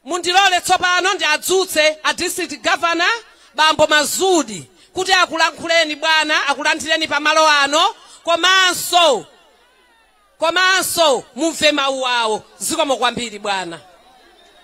mundilole tsopano ndiwadzutse a district governor bambo mazudi kuti akulankhuleni bwana akulandireni pamalo ano komanso mumve mawu awo zikomo kwambiri bwana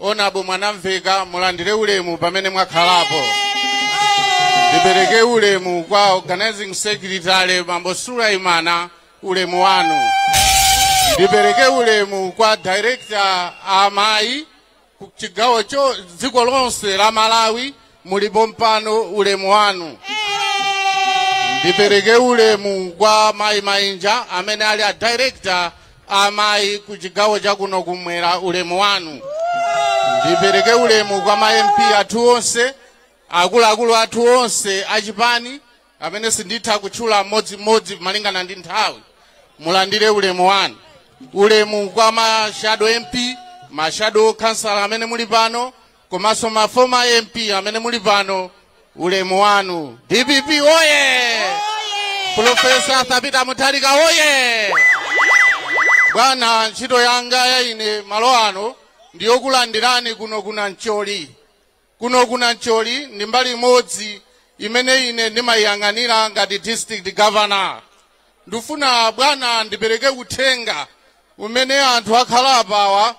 honourable mwanamvekha mulandire ulemu pamene mwakhalapo ndipereke ulemu kwa organizing secretary bambo sulaimana ulemu wanu ndipereke ulemu kwa director amayi ku chigawo dziko lonse la malawi muli pompano ulemu wanu ndipereke ulemu kwa mayi mainja amene ali a director a mayi ku chigawo chakuno kumwera ulemu wanu ndipereke ulemu kwa ma mp athu onse akuluakulu athu onse achipani amene sinditha kutchula mmodzimmodzi malingana ndi nthawi mulandire ulemu wanu ulemu kwa ma shadow mp ma shadow kansala amene muli pano komanso ma former MP amene muli pano, ulemu wanu. DPP woye! Profesa Arthur Peter Mutharika woye! Bwana, ntchito yanga ya ine malo ano ndi yokulandirani kuno ku Nancholi. Kuno ku Nancholi ndi mbali imodzi imene ine ndimayiyang'anira ngati district governor. Ndifuna bwana ndipereke uthenga umene anthu akhala apawa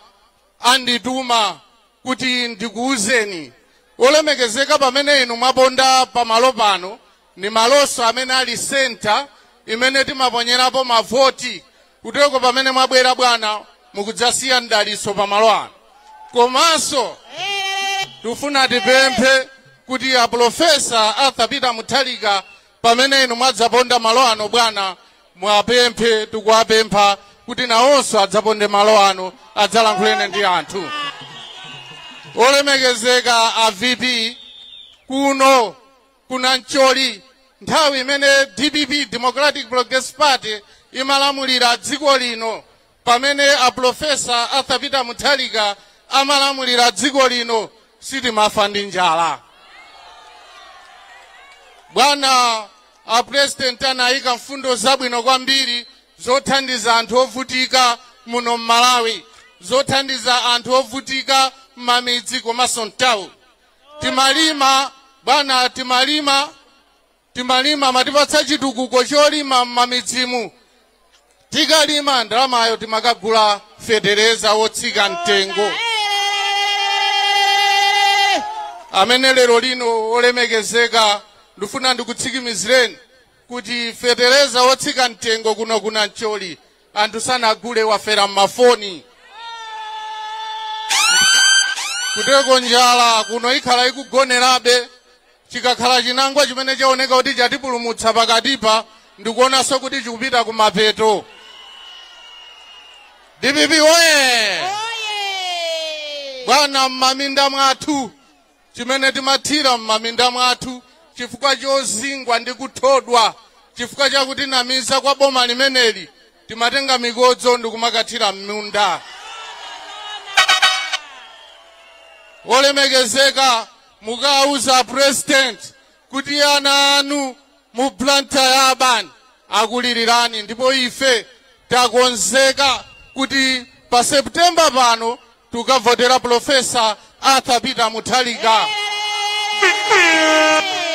andituma kuti ndikuuzeni. Olemekezeka, pamene inu mwaponda pa malo pano, ndi malonso amene ali centre imene timaponyerapo mavoti, kuteroko pamene mwabwera bwana mukudzasiya mdalitso pa malo ano. Komanso tufuna tipemphe kuti a Pulofesa Arthur Peter Mutharika, pamene inu mwadzaponda malo ano bwana, muwapemphe tikuwapempha kuti nawonso adzaponde malo ano adzalankhulene ndi anthu olemekezeka a vp kuno ku nancholi nthawi imene dpp democratic progress party imalamulira dziko lino pamene apulofesa arthur peter mutharika amalamulira dziko lino sitimafa ndi njala bwana apurezidenti anayika mfundo zabwino kwambiri zothandiza anthu ovutika muno m'malawi zothandiza anthu ovutika m'mamidzi komanso mtawu timalima bwana timalima timalima amatipatsa chitukuko cholima m'mamidzimu tikalima ndalamayo timakagula fetereza wotsika mtengo amene lero lino olemekezeka ndifuna ndikutsikimizireni kuti fetereza wotsika mtengo kuno ku nancholi anthu sanagule wathera mmafoni kuteko njala kuno ikhala ikugonerabe chikakhala chinangwa chimene chaoneka kuti chatipulumutsa pakatipa ndikuonanso kuti chikupita kumapeto dpp oye bwana mmaminda mwathu chimene timathira m'maminda mwathu chifukwa chozingwa ndi kuthodwa chifukwa cha kutinamiza kwa boma limeneli timatenga mikodzo ndikumakathira m'munda olemekezeka mukawauza a president kuti ana anu mu blantyre urban akulilirani ndipo ife takonzeka kuti pa september pano tikavotera Profesa Arthur Peter Mutharika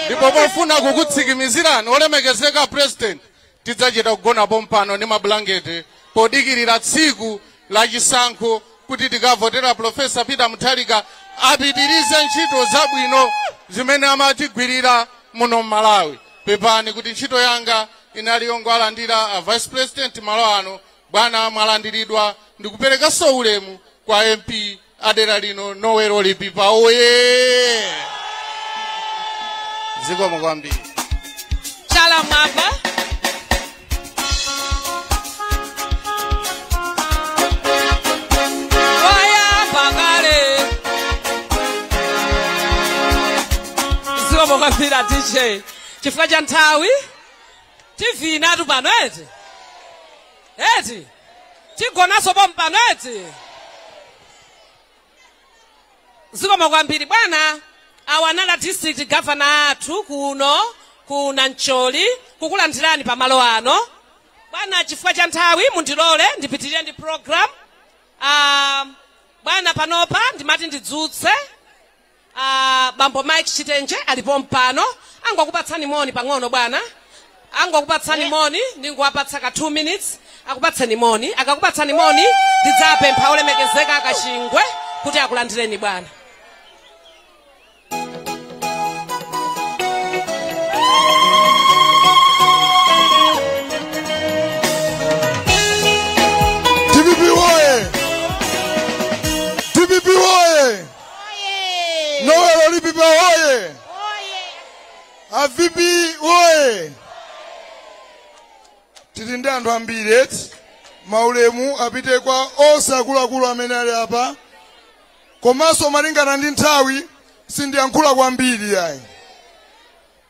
ndipo pofuna kukutsikimizirani olemekezeka president tidzachita kugona pompano ndi mabulangete podikirira tsiku la chisankho kuti tikavotera Profesa Peter Mutharika apitirize ntchito zabwino zimene amatigwirira muno m'Malawi pepani kuti ntchito yanga inali yongolandira a vice president malo ano Bwana mwalandiridwa ndikuperekanso ulemu kwa MP a dera lino Noel Lipipa oye zikomo kwambiri chala mwamba wayamba kale zikomo kwambiri dj chifukwa cha nthawi tivinatu pano eti eti tigonanso pompano eti zikomo kwambiri bwana awa anali district governor athu kuno ku nancholi kukulandirani pamalo ano bwana chifukwa cha nthawi mundilole ndipitirire ndi program um, bwana panopa ndimati ndidzutse A bambo Mike Chitenje ali pompano. Angokupatsani moni pang'ono bwana. Angokupatsani moni ndingowapatsa ka 2 minutes. Akupatseni moni. Akakupatsani moni ndidzapempha olemekezeka a Kachingwe kuti akulandireni bwana. Oye! Noel Lipipa oye! Oye! A VP oye! Tili ndi anthu ambiri eti maulemu apite kwa onse akuluakulu amene ali apa komanso malingana ndi nthawi sindiyankhula kwambiri yayi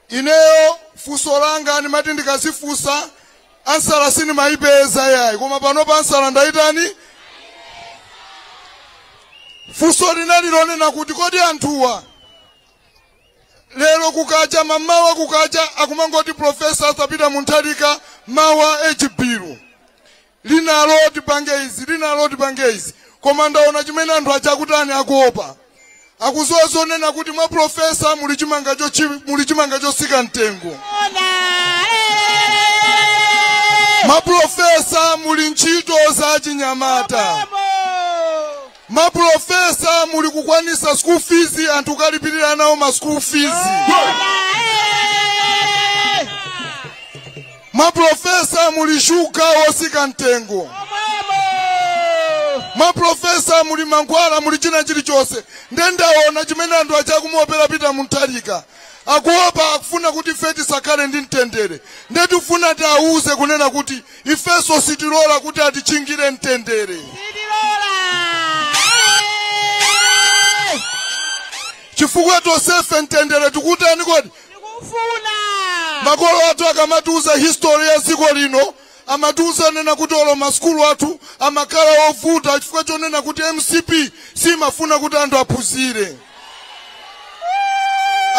Ineyo funso langa ndimati ndikazifunsa ansala sindimayipeza yayi koma pano pa ansala ndayitani funso linali lonena kuti kodi anthuwa lero kukacha mamawa kukacha akumangoti profesa asapita munthalika mawa echibiru linalo tipange izi linalo tipange izi koma ndaona chimene anthu aja akutani akuopa akuziwa zonena kuti mwa Profesa muli chimanga chotsika mtengo mwa Profesa muli ntchito za chinyamata mwa Profesa muli kukwanisa school fees anthu kulipirira ana awo ma school fees mwa Profesa muli shuga osika mtengo mwa Profesa muli mankhwala muli china chilichonse nde ndaona chimene anthu aja akumuopera Peter Mutharika akuopa akufuna kuti ife tisakhale ndi mtendere nde tifuna tiawuze kunena kuti ifenso sitilola kuti atichingire mtendere Sitilola. Eh, chifukwa tonsefe mtendere tikutani kodi Tikufuna. makolo athu akamatiuza history ya dziko lino amatiuza kunena kuti olo masukulu athu amakhala ovuta chifukwa chonena kuti MCP simafuna kuti anthu aphunzire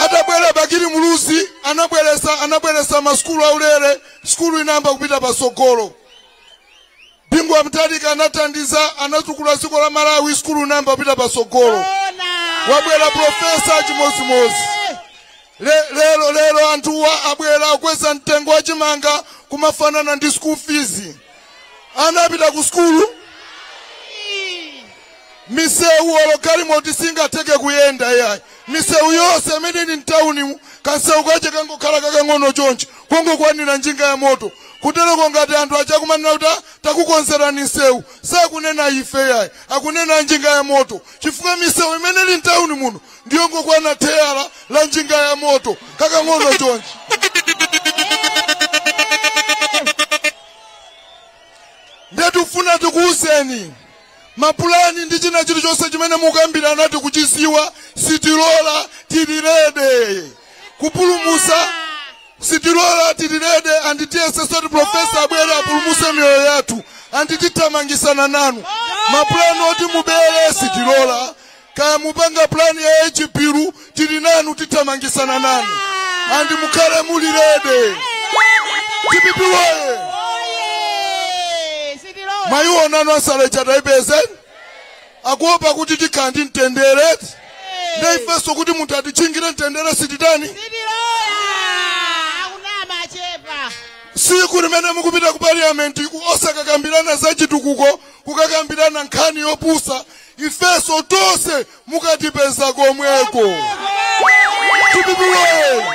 atabwera Bakili Muluzi anabweresa masukulu aulere Sukulu inayamba kupita patsogolo. Bingu wa Mutharika anathandiza, anatukula dziko la Malawi, sukulu inayamba kupita patsogolo. Wabwera profesa chimodzimodzi. Lero anthuwa abwera akweza mtengo wa chimanga kumafanana ndi school fees. Anapita ku sukulu misewu olo galimoti singatheke kuyenda iyayi misewu yonse imene ili mtawunimu kansewu kache kangokhala kakang'ono chonchi kongokwanira njinga ya moto kutereko ngati anthu aja akumanena kuti "Ah, takukonzerani msewu sakunena ife yayi akunena njinga ya moto chifukwa misewu imene ili mtawuni muno ndiyongokwana tayala la njinga ya moto kakang'ono chonchi nde tifuna tikuwuzeni mapulani ndi china chilichonse chimene mukambirana tikuchiziwa sitilola tili ready kupulumusa sitilola tili ready and tiyesesa kuti profesa abwere apulumuse miyoyo yathu and tithamangisana nanu mapulani oti mubere sitilola kaya mupanga plan ya age bill tili nanu tithamangisana nanu and mukhale muli ready DPP woye mayiwo nanu asalecha taipezeni akuopa kuti tikhala ndi mtendere nde ifenso kuti munthu atichingire mtendere sititani siku limene mukupita ku parliament ku- osakakambirana za chitukuko kukakambirana nkhani yopusa ifeso tonse mukatipeza komweko DPP woye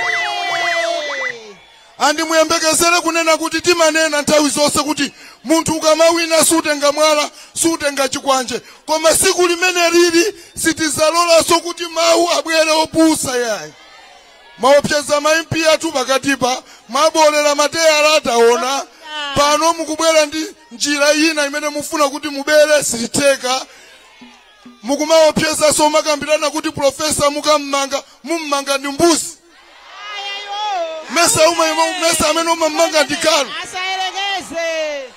and muyembekezere kunena kuti timanena nthawi zonse kuti munthu ukamawina sutenga mwala sutenga chikwanje koma siku limene lili sitizalolanso kuti mawu abwere opusa yayi Mwaopseza ma MP athu pakatipa, mwaboolera mateyala taona, pano mukubwera ndi njira ina imene mufuna kuti mubere sizitheka. Mukumaopsezaso kumakambirana kuti Professor mukammanga mummanga ndi mbuzi. Mesa uma mesa amene umammanga ndi galu. asayerekeze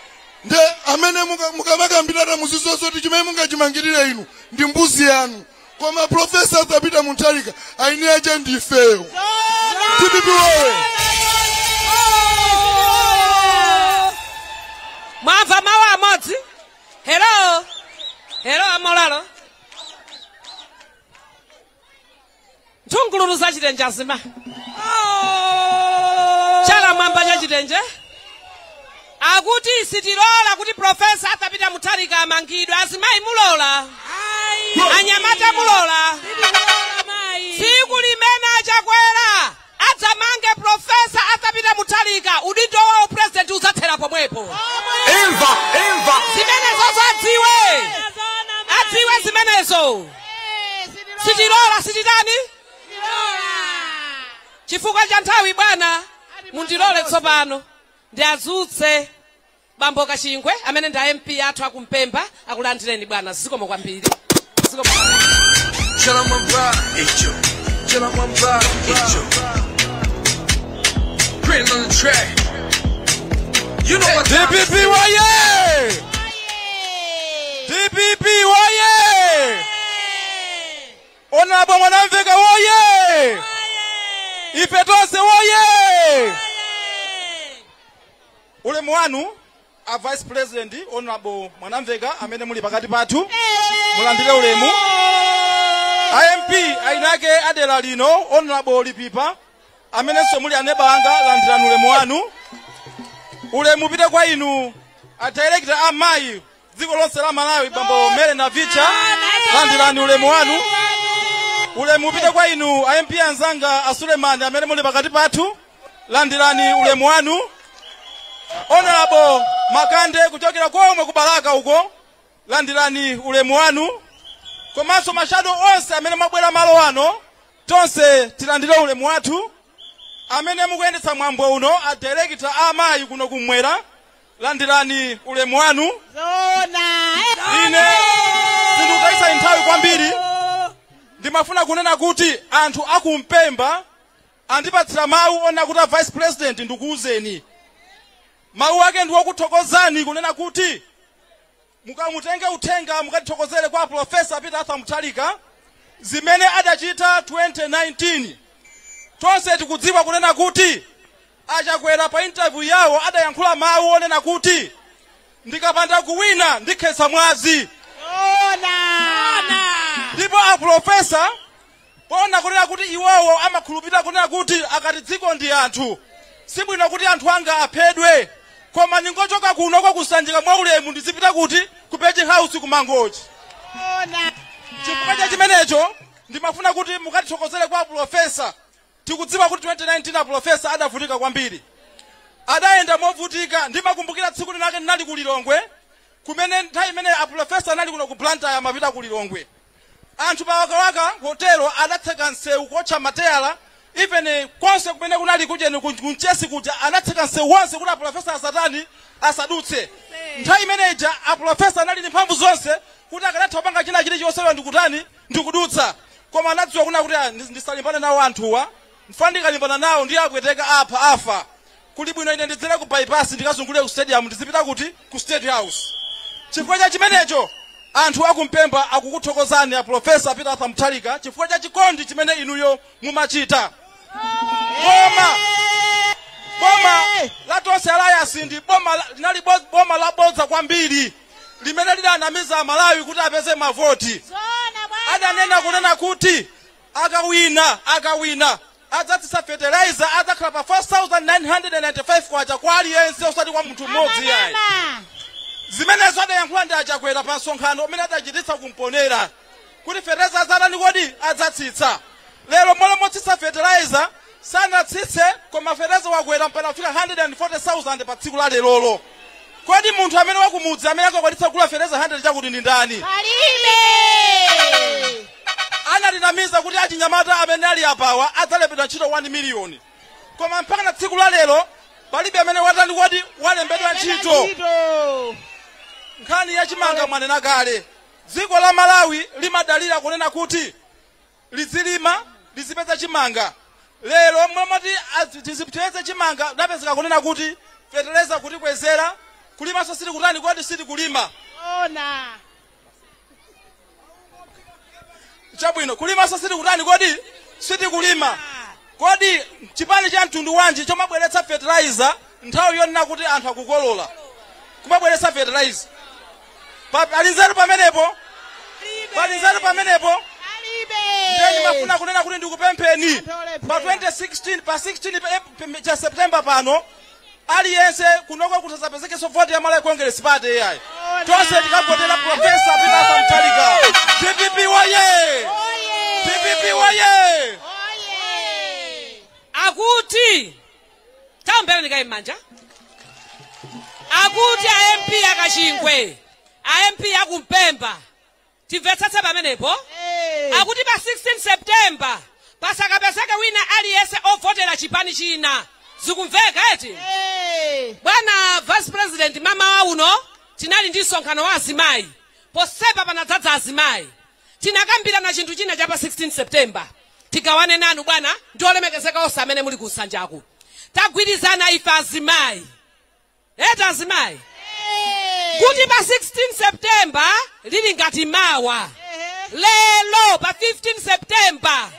Nde amene muka- mukamakambirana muzidziwanso kuti chimene mungachimangirire inu ndi mbuzi yanu. koma profesa Arthur Peter Mutharika aini ache ndifeyo DPP woye mwamva mawu amodzi helo helo amolalo nthungululu za chitenje azimayi chala mwamba cha chitenje akuti sitilola kuti profesa Arthur Peter mutharika amangidwe azimayi mulola anyamata mulola tsiku limene achakwera adzamange profesa Arthur Peter mutharika udindo wa upurezidenti udzathera pomwepo imva imva zimenezo adziwe adziwe zimenezo sitilola sititani chifukwa cha nthawi bwana mundilole tsopano ndiazutse bambo kachingwe amene ndi a MP athu aku Mpemba akulandireni bwana zikomo kwambiri zikomo kwambiri Chala mwamba, icho. Chala mwamba, icho. Printing on the track. You know what time it is. DPP woye! DPP woye! Honourable Mwanamveka woye! Ife tonse woye! Ulemu wanu A vice president, Hon. Mwanamveka amene muli pakati pathu, mulandire ulemu. A MP ainake a dera lino, Hon. Lipipa amenenso muli aneba anga, landirani ulemu wanu. Ulemu upite kwa inu a director a mayi dziko lonse la Malawi, bambo Mary Navicha, landirani ulemu wanu. Ulemu upite kwa inu a MP anzanga a Sulemani amene muli pakati pathu. landirani ulemu wanu honorable Makande kuchokera komwe ku Balaka uko landirani ulemu wanu komanso mashado onse amene mwabwera malo ano tonse tilandire ulemu wathu amene mukuyendetsa mwambo uno a director a amayi kuno kumwera landirani ulemu wanu Zona. ine sindikutayitsa nthawi kwambiri ndimafuna kunena kuti anthu aku Mpemba Andipatsira mau onena kuti a vice president ndikuuzeni. Mau ake ndi okuthokozani kunena kuti mukamutenge uthenga mukatithokozere kwa Prof. Peter Arthur Mutharika zimene adachita 2019. Tonse tikudziwa kunena kuti a Chakwera pa interview yawo adayankhula mau onena kuti ndikapanda kuwina ndikhetsa mwazi. Ndipo a Prof. Poona kunena kuti iwowo amakhulupirira kunena kuti akati dziko ndi anthu, sibwino kuti anthu anga aphedwe, koma ndingochoka kuno kwa ku Sanjika mwaulemu ndizipita kuti? Ku Page House ku Mangochi. Chifukwa cha chimenecho, ndimafuna kuti mukatithokozere kwa apulofesa. Tikudziwa kuti 2019 apulofesa adavutika kwambiri. Adayenda movutika. Ndimakumbukira tsiku linalake ndinali ku Lilongwe, kumene nthawi imene apulofesa anali kuno ku Blantyre amapita ku Lilongwe. Anthu pa Wakawaka hotel adatseka nsewu kuotcha mateyala even konse kumene kunali kujeni ku Mchesi kuja anatseka nsewu wonse kuti apulofesa asatani asadutse nthawi imene ija apulofesa anali ndi mphamvu zonse kuti akadatha kupanga china chilichonse lelo ndikutani ndikudutsa koma anadziwa kuna kuti ah, ndis- ndisalimbane nawo anthuwa Chifukwa ndikalimbana nawo ndiye apwetekana apha afa kuli bwino ine ndidzere ku bypass ndikazungulire ku stadium ndizipita kuti ku state house chifukwa cha chimenecho anthu aku Mpemba akukuthokozani a professor Peter Arthur Mutharika chifukwa cha chikondi chimene inuyo mumachita boma boma la tonse alliance ndi boma la- linali bo- boma labodza kwambiri limene lidanamiza Amalawi kuti apeze mavoti adanena kunena kuti Akawina akawina adzatsitsa fertilizer adzakhala pa 4995 kwacha kwa aliyense osati kwa munthu mmodzi yayi. Zimenezo adayankhula ndi a Chakwera pa msonkhano umene adachititsa ku Mponela kuti fertilizer adzatani kodi adzatsitsa. Lero mmalo motsitsa fertilizer sanatsitse koma fertilizer wakwera mpaka kufika 140,000 pa tsiku la lerolo. Kodi munthu amene wakumudzi amene angakwanitse kugula fertilizer 100 chakuti ndi ndani? Palibe. anatinamiza kuti achinyamata amene ali apawa adzalembedwa ntchito 1 miliyoni koma mpaka na tsiku la lero palibe amene watani kodi walembedwa ntchito nkhani ya chimanga mwanena kale dziko la malawi limadalira kunena kuti lizilima lizipeza chimanga lero mmomoti tizipeze chimanga kudapezeka kunena kuti feteleza kutikwezera kulimanso sitikutani kodi sitikulima ona chabwino kulimanso sitikutani kodi sitikulima kodi chipani cha mtundu wanji chomabweretsa fertilizer nthawi yonena kuti anthu akukolola kumabweretsa fertilizer Pa- pali nzeru pamenepo pali nzeru pamenepo ndiye ndimafuna kunena kuti ndikupempheni pa 2016 pa 16 pa- pa- cha september pano aliyense kunoko kusadzapezekenso voti ya malawi congress party yayi tonse tikavotere profesa peter mutharika dpp woyee dpp woyee akuti taomberani kaye m'manja akuti a mp akachingwe a mp akumpemba timvetsetse pamenepo akuti pa 16 september pasakapezeke wina aliyense wovotera chipani china zikumveka eti bwana vice president mmawa uno tinali ndi msonkhano wa azimayi ponsepa panadzadza azimayi Tinakambirana chinthu china cha pa 16 September. Tigawane nanu bwana ndi olemekezeka onse amene muli ku nsanjaku. Tagwirizana ife azimayi. Eti azimayi? Kuti pa 16 September lili ngati mawa. Lero pa 15 September.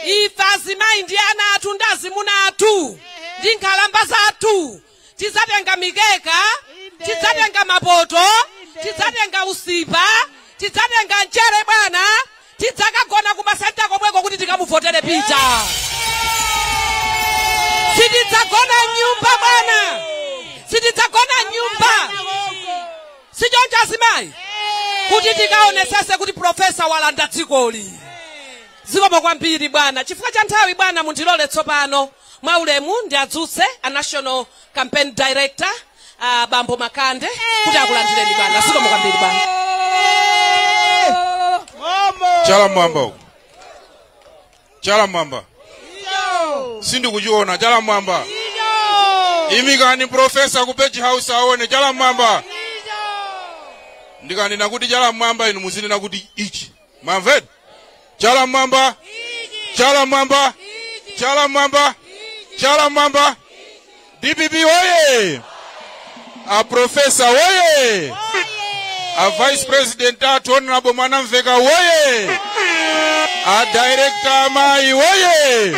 Ife azimayi ndi ana athu ndi azimuna athu. Ndi nkhalamba zathu. tidzatenga mikeka tidzatenga mapoto tidzatenga usipa tidzatenga mchere bwana tidzakagona kumasenta komweko kuti tikamuvotere pita sitidzagona m'nyumba bwana sitidzagona m'nyumba sichoncho azimayi kuti tikaonetsetse kuti profesa walanda dzikoli zikomo kwambiri bwana chifukwa cha nthawi bwana mundilole tsopano Mwaulemu ndiwadzutse a National Campaign Director a Bambo Makande kuti akulandireni bwana. Zikomo kwambiri bwana. Chala m'mwamba uko. Chala m'mwamba. Sindikuchiona chala m'mwamba. Imikani profesa ku page house aone chala m'mwamba. Ndikanena kuti chala m'mwamba inu muzinena kuti ichi. mwamveni chala mmwamba chala mmwamba chala mmwamba chala mmwamba dpp woye a profesa woye a vice president athu honorable mwanamveka woye a director amayi woye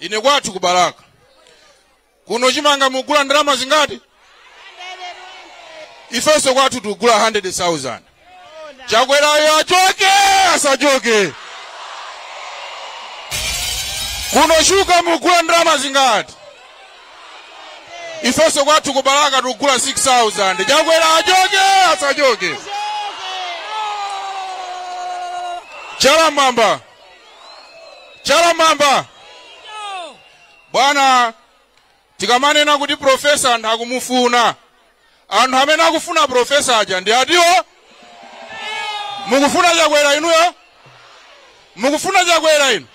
ine kwathu ku balaka kuno chimanga mugula ndalama zingati ifenso kwathu tikugula 100000 chakwerayo achoke asachoke kuno shuka mugula ndalama zingati ifenso kwathu ku balaka tikugula 6000 chakwera achoke asachoke chala mmwamba chala mmwamba bwana tikamanena kuti profesa anthu akumufuna anthu amene akufuna profesa aja ndi atiwo mukufuna chakwera inuyo mukufuna chakwera inu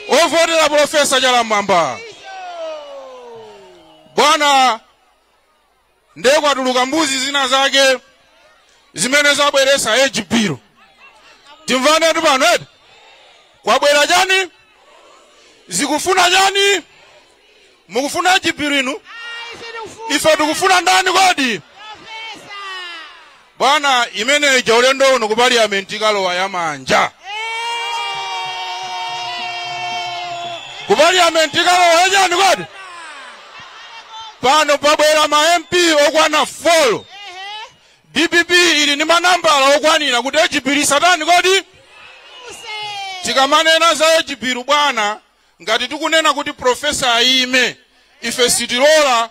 ovotera profesa chala mmwamba bwana ndiye kwatuluka mbuzi zina zake zimene zabweretsa age bill timvanetu pano eti kwabwera chani zikufuna chani mukufuna age bill inu ife tikufuna ndani kodi Bwana imene ija ulendo uno ku parliament ikalowa ya manja. Ku parliament ikalowa ya chani kodi? Pano pabwera ma MP okwana 4. DPP ili ni manambala okwanira kuti age bill isatani kodi? Tikamanena za age bill bwana ngati tikunena kuti profesa ayime ife sitilola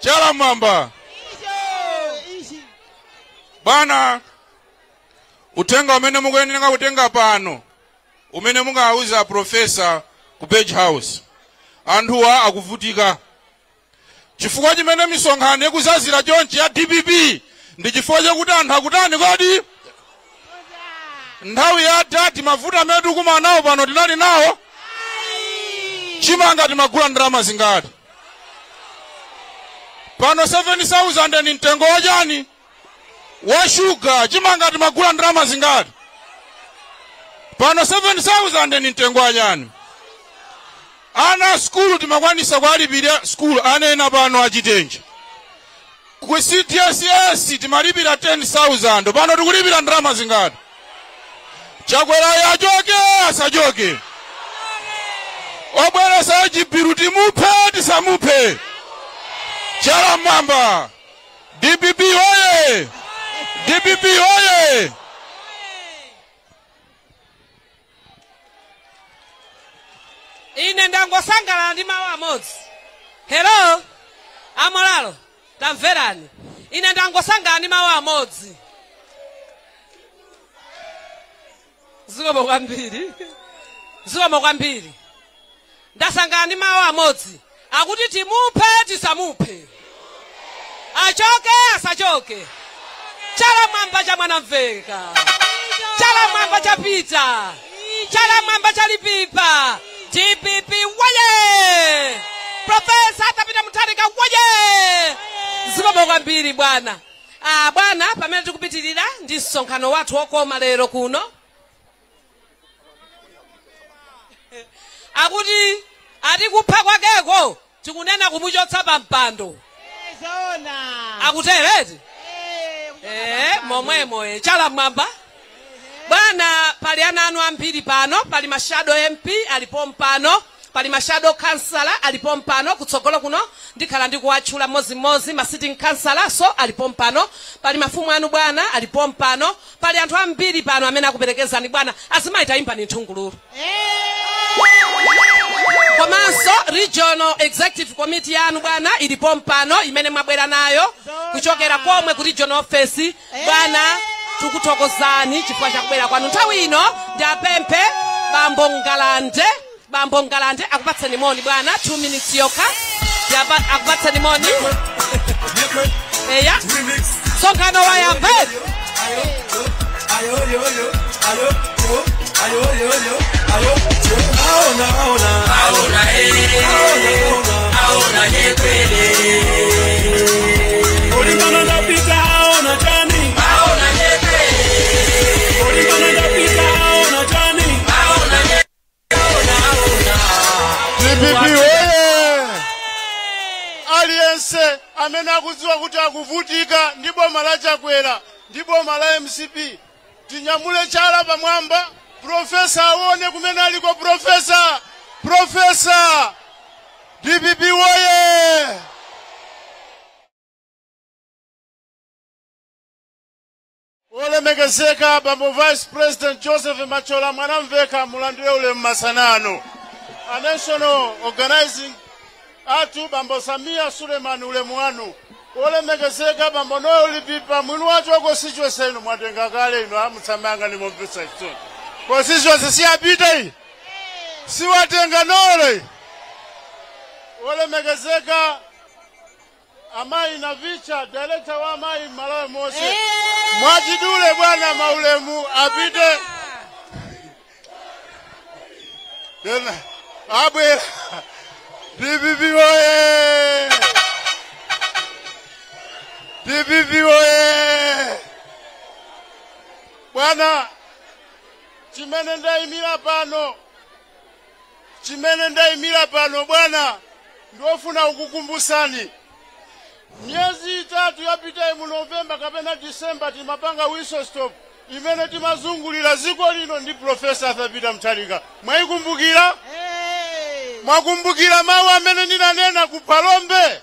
chala mwamba bwana uthenga umene mukuyenera kutenga pano umene mukawauza profesa ku page house anthuwa akuvutika chifukwa chimene misonkhano ikuzazira chonchi ya dpp ndi chifukwa chakuti anthu akutani kodi nthawi ya adadi mavuto amene tikumana nawo pano tinali nawo chimanga timagula ndalama zingati pano 7000 ndi mtengo wachani wa shuga chimanga timagula ndalama zingati pano 7000 ni mtengo wachani ana skulu timakwanisa kuwalipira skulu ana ena pano achitenje ku cdss timalipira 10000 pano tikulipira ndalama zingati chakwerayo achoke asachoke obweretsa age bill timuphe tisamuphe chala mwamba dpp oye dpp oye ine ndangosangalala ndi mawu amodzi hello amolalo tamverani ine ndangosangalala ndi mawu amodzi zikomo kwambiri zikomo kwambiri ndasangalala ndi mawu amodzi akuti timuphe tisamuphe achoke asachoke chala mwamba cha mwanamvekha chala mwamba cha peter chala mwamba cha lipipa dpp woye profesa arthur peter mutharika woye zikomo kwambiri bwana Ah, bwana, pamene tikupitirira ndi msonkhano wathu wokoma lero kuno, akuti ati kupha kwakeko tikunena kumuchotsa pa mpando Zoona. akutereti eh, momwemo eh, chala mwamba bwana pali ana anu ambiri pano pali ma shadow mp ali pompano Pali ma shadow khansala ali pompano kutsogolo kuno, ndikhala ndikuwatchula mmodzi mmodzi. Ma sitting khansalanso ali pompano. Pali mafumu anu bwana ali pompano. Pali anthu ambiri pano amene akuperekezani bwana. Azimayi tayimbani nthungululu. Komanso regional executive committee yanu bwana ili pompano imene mwabwera nayo kuchokera komwe ku regional office. bwana tukuthokozani chifukwa chakubwera kwanu nthawi ino ndiwapemphe bambo ngalande akupatseni moni bwana 2 minutes yokha Yapa- akupatseni moni eya msonkhano wayamba Olimbana ndi a Peter aona chani Olimbana ndi a Peter aona chani dpp oye aliyense amene akudziwa kuti akuvutika ndi boma la chakwera ndi boma la mcp tinyamule chala pamwamba profesa aone kumene aliko profesa profesa dpp woye olemekezeka bambo vice president joseph mathyola mwanamvekha mulandire ulemu masana ano a national organizing Athu Bambo Sameer Suleiman Ulemu wanu wolemekezeka Bambo Noel Lipipa mwini wache wa constituency ino mwatenga kale ino a musamayang'ane momvetsa chisoni constituency siyapita iyi siwatenga Noel iyi wolemekezeka Amayi Navicha, director wa amayi Malawi yonse. Mwachidule bwana maulemu apite. Tena abwera. DPP oye! DPP oye! Bwana chimene ndaimira pano Chimene ndaimira pano bwana ndikufuna kukukumbusani miyezi itatu yapitayi mu November kapena December timapanga whistle stop imene timazungulira ziko lino ndi Professor Arthur Peter Mutharika. Mwaikumbukira? Mwakumbukira mawu amene ndinanena ku Phalombe?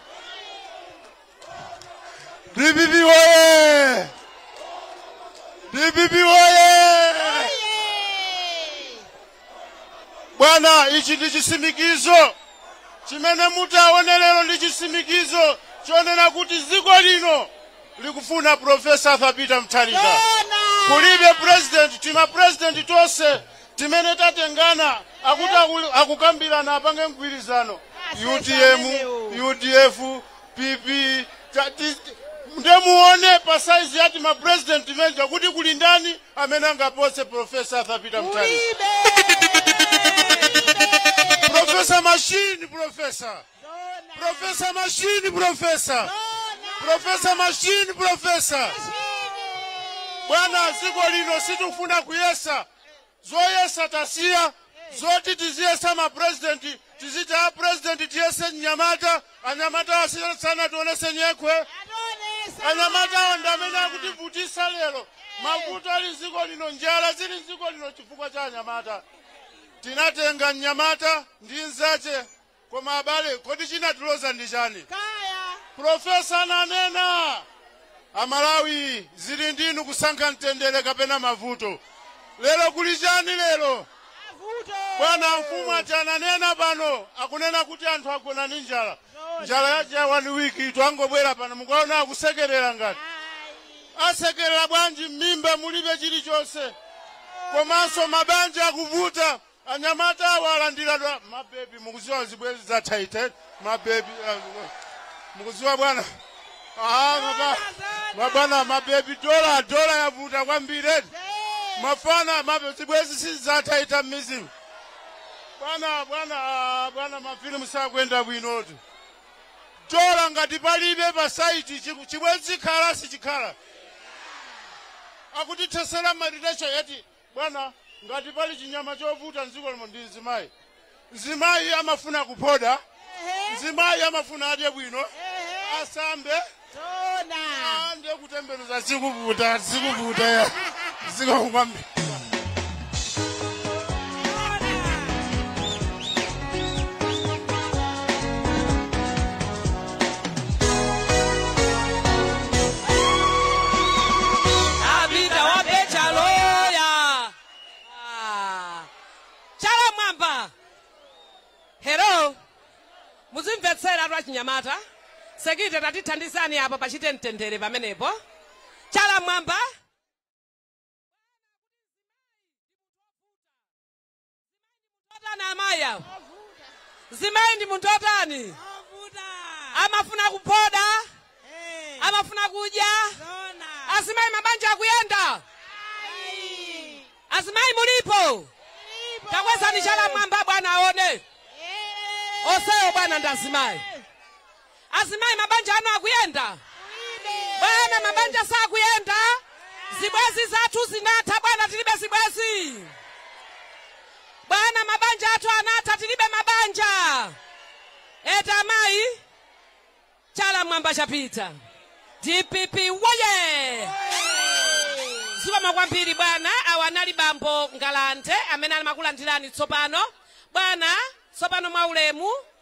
dpp woye dpp woye bwana ichi ndi chisimikizo chimene mutaone lero ndi chisimikizo chonena kuti dziko lino likufuna profesa arthur peter mutharika kulibe president tima president tonse Timene tatengana akuti akul, akukambirana apange mgwirizano utm, udf, pp ta- ti- ti- nde muone pa saizi yati ma president timeja kuti kuli ndani amene angapose profesa arthur peter mutharika profesa mashini profesa profesa mashini profesa profesa mashini profesa bwana ziko lino sitikufuna kuyesa zoyesa tasiya zoti tiziyesa mapurezidenti tiziti a purezidenti tiyese mnyamata anyamata asiyana sanationese nyekhwe anyamatawo ndi amene akutivutisa lero mavuto ali mdziko lino njala zili mdziko lino chifukwa cha anyamata tinatenga mnyamata ndi nzache Koma abale, kodi chinatiloza ndi chani? Kaya. Pulofesa ananena, Amalawi zili ndi inu kusankha mtendere kapena mavuto. Lero kuli chani lero? Mavuto. Bwana mfumu yathu inanena pano, akunena kuti anthu agona ndi njala. Zoona. Njala yache ya one week itu angobwera pano, mukaona akusekerera ngati. Ayi. Asekerera bwanji m'mimba mulibe chilichonse, komanso mabanja akuvuta. Anyamata awa alandidwa mabebi mukuziwa zibwezi za tight mabebi uh, mukuziwa bwana ah maba mabwana mabebi dola dola yavuta kwambiri eti. mafana mabe zibwezi si za tight mizimu bwana bwana ah, bwana mafilimu sakwenda bwinotu dola ngati palibe pa saiti chiku- chibwezi chikhala sichikhala akutithesera ma relation eti Bwana, ngati pali chinyama chovuta mdziko lino ndi mzimayi. Mzimayi amafuna kuphoda, mzimayi amafuna adye bwino, asambe, Tona. ndiye kutembenuza zikuvuta, zikuvuta ya zikongwambi. Abida wa PA chala. Ah. Chala mwamba. Hello. Muzimvetsera athu achinyamata. Sekite tatithandizani apa pachite mtendere pamenepo. Chala mwamba. Otani amayi awo mzimayi ndi munthu otani Ovuta. amafuna kuphoda Eh. amafuna kudya Zona. azimayi mabanja akuyenda Ai. azimayi mulipo takwezani chala mwamba bwana aone Eh. onsewo bwana ndi azimayi Azimayi mabanja anu akuyenda? Bwana mabanja sakuyenda? Zibwenzi zathu zinatha bwana tilibe zibwenzi. Bwana mabanja athu anatha tilibe mabanja. Eti amayi chala mwamba chapita. DPP woye! Zikomo kwambiri bwana awa anali bambo Ngalande amene ali kukulandirani tsopano. Bwana tsopano mwaulemu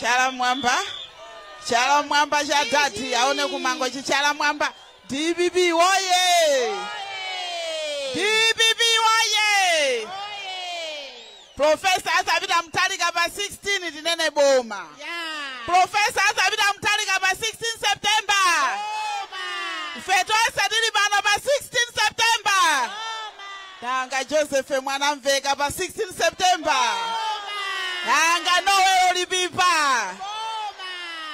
chala mwamba chala mwamba cha dadi aone kumango chichala mwamba dpp woye dpp woye Prof. Arthur Peter Mutharika pa 16 tinene boma. Prof. Arthur Peter Mutharika pa 16 September. Ife tonse tili pano pa 16 September. Nanga Joseph Mwanamveka pa 16 September. Nanga Noel Lipipa.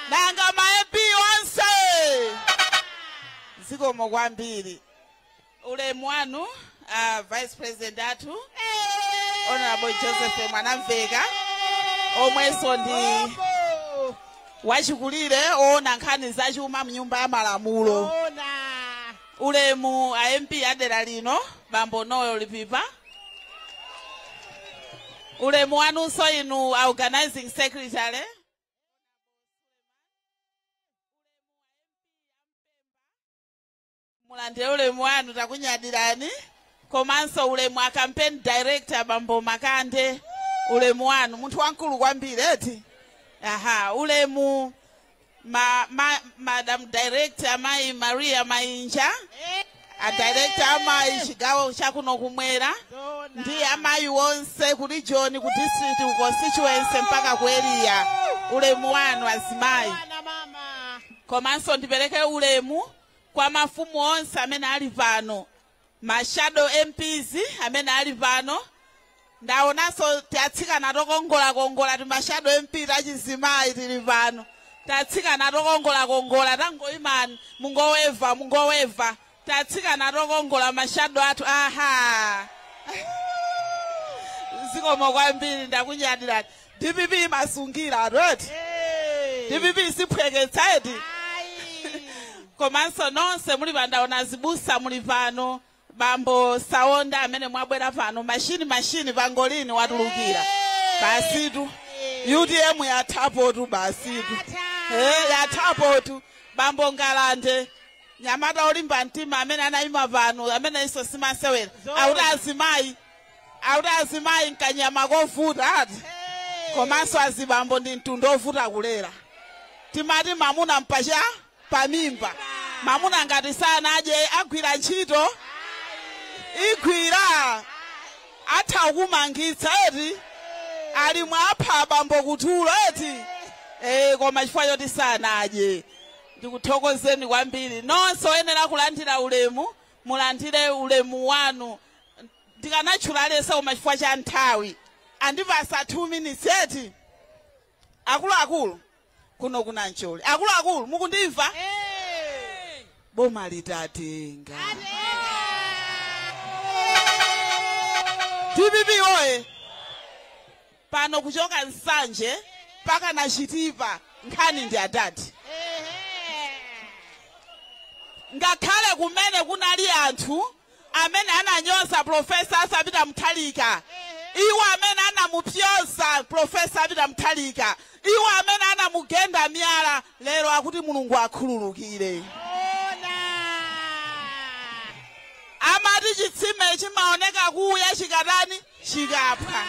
Nanga ma MP onse. Zikomo kwambiri. ulemu wanu a vice president athu honorable joseph mwanamveka omwenso ndi wachikulire oona nkhani zachuma mnyumba ya malamulo ulemu a mp adera lino bambo noel lipipa ulemu wanunso inu a organizing secretary mulandire ulemu wanu takunyadirani komanso ulemu a campaign director bambo makande ulemu wanu munthu wamkulu kwambiri eti aha ulemu ma, ma, madam director mayi maria mainja a director amayi chigawo chakuno kumwera ndi amayi wonse ku region ku district ku constituency mpaka ku area ulemu wanu azimayi komanso ndipereke ulemu kwa mafumu onse amene ali pano, ma shadow MPs amene ali pano, ndaonanso tatsikana tokongolakongola tima shadow MP tachizimayi tili pano, tatsikana tokongolakongola tangoimani mungoweva mungoweva tatsikana tokongola ma shadow athu aha zikomo kwambiri ndakunyadirani dpp imasungira ati eti Eh. dpp isiphweketsa eti Ayi. komanso nonse muli pano ndaona azibusa muli pano bambo saonda amene mwabwera pano mashini mashini pangolini watulukira Eh. basitu utm yathapotu basitu Yatha. Eh, yathapotu bambo ngalande mnyamata olimba mtima amene anayima pano amene iso simasewera Zoona. akuti azimayi akuti azimayi n'kanyama kovuta ati komanso azibambo ndi mtundu ovuta kulera timati mamuna m'pa pamimba mamuna ngati sanadye agwira ntchito igwira atha kumangitsa eti ali mwapha abambo kutulo eti eh koma chifukwa choti sanadye ndikuthokozeni kwambiri nonse oyenera kulandira ulemu mulandire ulemu wanu ndikanatchula aliyense koma chifukwa cha nthawi andipasa 2 minutes eti akuluakulu kuno kuna mcholi akuluakulu mukundimva boma litatenga dpp woye pano kuchoka nsanje mpaka na chitipa nkhani ndi adadi ngakhale kumene kunali anthu amene ananyoza Prof. Arthur Peter Mutharika, iwo amene anamunyoza Prof. a Peter Mutharika, iwo amene anamugenda miyala, lero akuti Mulungu akhululukire. Amati chitsime chimaoneka kuya chikatani? Chikaphwa.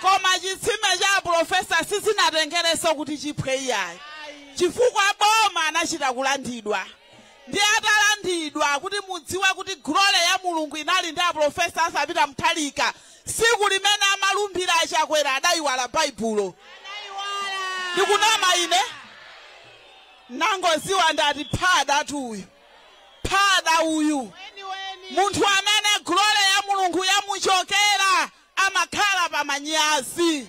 Koma chitsime cha Prof. sizinatengerenso kuti chiphwe iyayi. Chifukwa boma anachita kulandidwa. ndi atalandidwa kuti mudziwe kuti glory ya mulungu inali ndi aprofesa Arthur Peter Mutharika siku limene amalumbira achakwera adayiwala baibulo sindikunama ine nangoziwa ndati phada tu uyu phada uyu munthu amene glory ya mulungu yamuchokera amakhala pa manyazi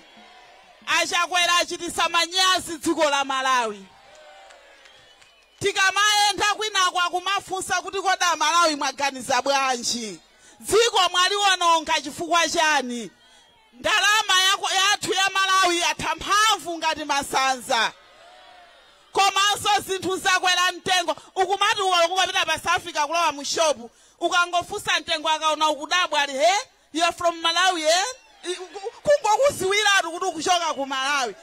achakwera achitisa manyazi dziko la malawi Tikamayenda kwinaku akumafunsa kuti kodi amalawi mwaganiza bwanji? Dziko mwaliwononga chifukwa chani? Ndalama yathu ya Malawi yatha mphamvu ngati masanza. Komanso zinthu zakwera mtengo ukumati ukapita pa south africa kulowa mu shop ukangofunsa mtengo akaona ukudabwa ali hee You are from Malawi kungokuziwiratu kuti ukuchoka ku malawi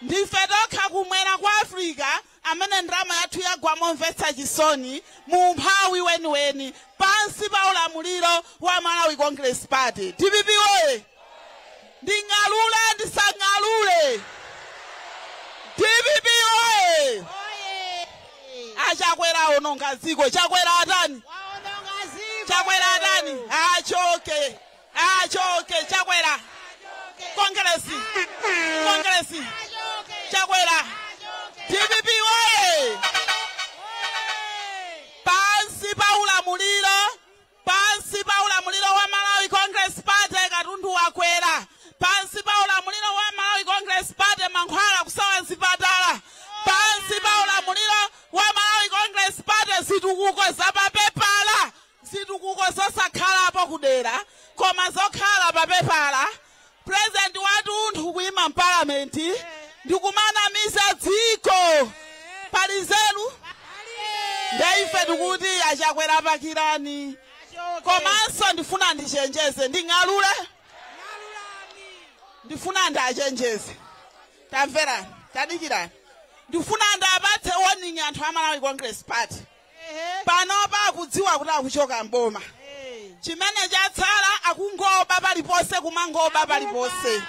ndife tokha kumwera kwa africa amene ndalama yathu yagwa momvetsa chisoni mu mphawi weniweni pansi pa ulamuliro wa malawi congress party dpp oye nding'alule ndisang'alule dpp oye A Chakwera awononga dziko. Chakwera atani? Chakwera atani? Achoke. Achoke Chakwera. Kongresi. Kongresi. Chakwera. DPP oye! Pansi pa ulamuliro Pansi pa ulamuliro wa Malawi Congress Party katundu wakwera. Pansi pa ulamuliro wa Malawi Congress Party mankhwala kusowa mzipatala. Pansi pa ulamuliro wa Malawi Congress Party zitukuko za pa pepala, zitukuko zosakhalapo kudera koma zokhala pa pepala. president watunthu kuima mparliament ndikumanamiza dziko pali nzeru nde ife tikuti achakwera pakirani komanso ndifuna ndichenjeze nding'alule ndifuna ndachenjeze tamverani tadikirani ndifuna ndapatse warning anthu a malawi congress party panopa akudziwa kuti akuchoka mboma chimene chatsala akungoba paliponse kumangoba paliponse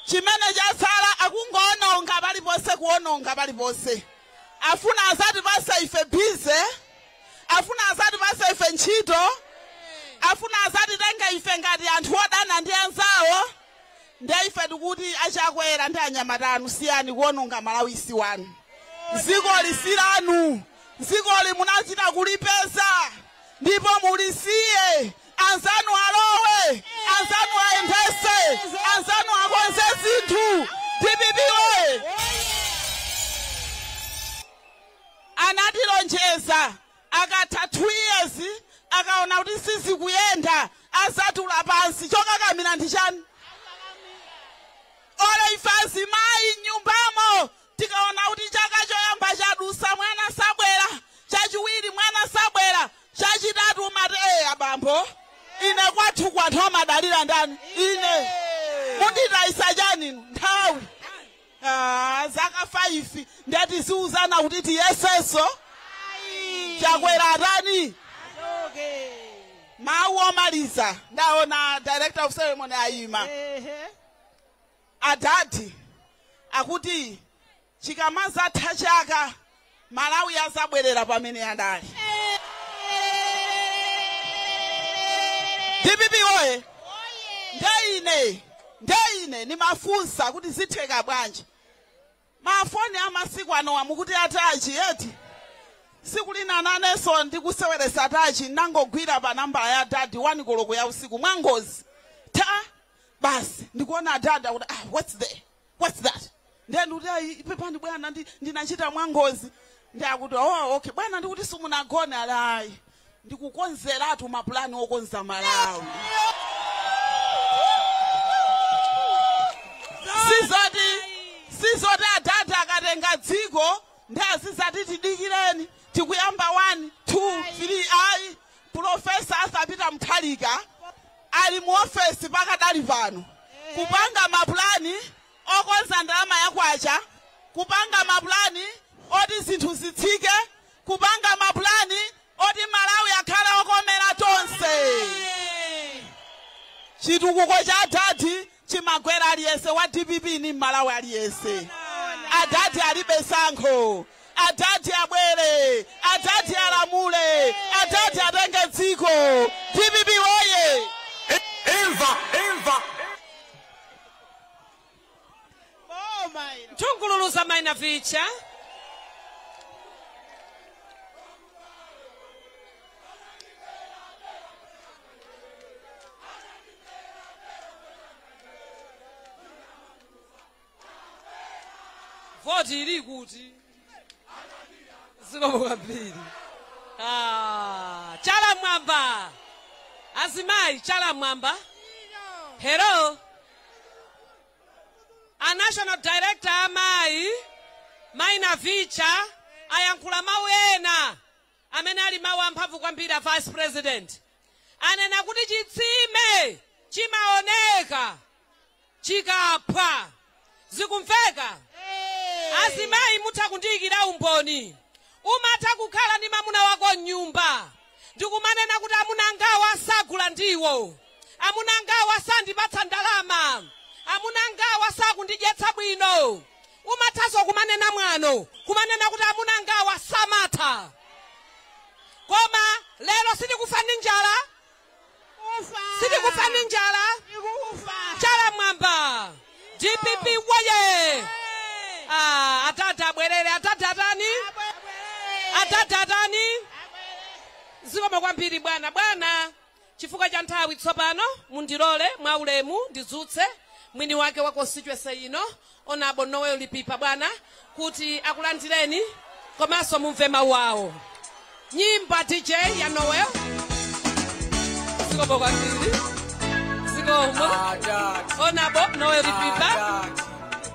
chimene chatsala akungoononga paliponse kuononga paliponse afuna azatipase ife bize afuna azatipase ife ntchito afuna azatitenge ife ngati anthu odana ndi anzawo Ndiye ife tikuti a Chakwera ndi anyamata anu siyani kuononga Malawi si wanu. Dzikoli si lanu. Dzikoli munachita kulipeza ndipo mulisiye. Anzanu alowe, anzanu ayendetse, anzanu akonze zinthu. Dpp woye! Anatilonjeza Akatha 2 years akaona kuti sizikuyenda azatula pansi chokakamira ndi chani? Or ife azimayi mnyumbamo tikaona kuti chaka choyamba chadusa mwana sabwera, chachiwiri mwana sabwera, chachitatu umati ee abambo ine kwathu kwa anthu amadalira ndani? Ine. Munditayisa chani? Nthawi. zaka 5 ndiye tiziuzana kuti tiyesenso Ayi. chakwera atani Achoke. mawu omaliza ndaona director of ceremony ayima Ehe. adadi akuti chikamazatha chaka malawi azabwerera pamene adali dpp oye ndeine ndeine ndimafunsa kuti zitheka bwanji mafoni amasiku anowa mukuti atachi eti siku lina nanenso ndikuseweresa atachi ndangogwira pa nambala ya adadi wani koloko ya usiku mwangozi ta basi ndikuona adadi akuti what's there what's that ndiye ndikuti ayi pepani bwana ndi- ndinachita mwangozi ndi akuti oh okay bwana ndikuti simunagone ali ayi ndikukonzeratu mapulani okonza malawi sizoti adadi akatenga dziko nde azizati tidikireni tikuyamba 1 2 3 ayi profesa asapita mthalika ali mu ofesi pakadali pano kupanga mapulani okonza ndalama ya kwacha, kupanga mapulani oti zinthu zitsike, kupanga mapulani oti Malawi akhale okomera tonse. Chitukuko cha Adadi chimagwera aliyese wa dpp ni mmalawi aliyese adadi alibe sankho adadi abwere adadi alamule adadi atenge dziko dpp woye imva imva nthungululuza maina vicha voti ili kuti zikomo kwambiri Ah, chala mwamba azimayi chala mwamba pano a national director amayi mayi Navicha ayankhula mawu ena amene ali mawu amphamvu kwambiri a vice president, anena kuti chitsime chimaoneka chikaphwa. Zikumveka? Azimayi mutha kundiyikira umboni. Umatha kukhala ndi mamuna wako m'nyumba ndikumanena kuti amuna angawa sagula ndiwo, amuna angawa sandipatsa ndalama, amuna angawa sakundidyetsa bwino. Umathanso kumanena mwano, kumanena kuti amuna angawa samatha. Koma lero sitikufa ndi njala. Sitikufa ndi njala. Chala m'mwamba. Dpp woye! Ah, atate abwerere, atate atani? Atate atani? Zikomo kwambiri bwana, bwana. Chifukwa cha nthawi tsopano, mundilole mwaulemu ndidzutse mwiniwake wa constituency ino, Hon. Noel Lipipa, bwana, kuti akulandireni komanso mumve mawu awo. Nyimbo, DJ, ya Noel. Zikomo kwambiri. Zikomo. Hon. Noel Lipipa.